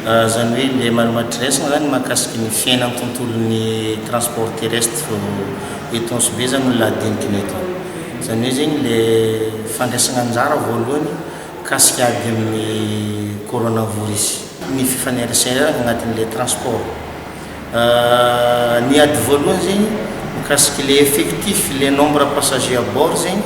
Izany hoe ilay manoma dressing izany mahakasika ny fiainan'ny tontolon'ny transport terrestre vao eto Ansibe izany no lahadinikiny eto. Izany hoe zegny le fandraisagna anjara voalohany mikasika ady amin'ny coronavirus, ny fifaneraserana agnatin'ilay transport. Ny ady voalohany zegny mikasika ilay effectif, ilay nombre passager à bord zegny.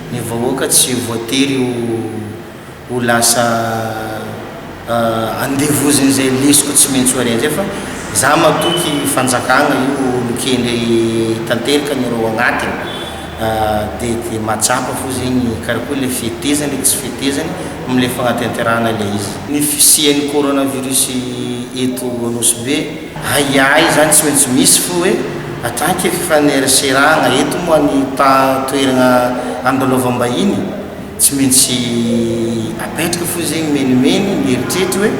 Ny vahoaka tsy voatery ho ho lasa andevozin'izay lesoka tsy maintsy ho arendrika fa za matoky fanjakagna io olo kendry tanteraka ny reo agnatiny de de matsapa fô zegny karakory le fetezany le tsy fetezany amle fagnatenterahana le izy. Ny fisian'ny coronavirus eto Anosibe. Ahiahy izany tsy maintsy misy fo hoe hatrany ke fifaneraserana eto moa ny ta toerana andalaovam-bahiny tsy maintsy apetraka fo zegny menomeno ny eritreritry hoe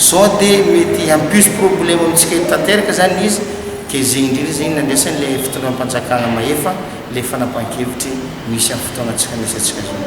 sao de mety hampiso problema amintsika eto tanteraka izany izy ke zegny indrindra zegny nandraisan'ilay fitondram-panjakana mahefa ilay fanapahan-kevitry misy amin'ny fotoana tsy fanesantsika zao.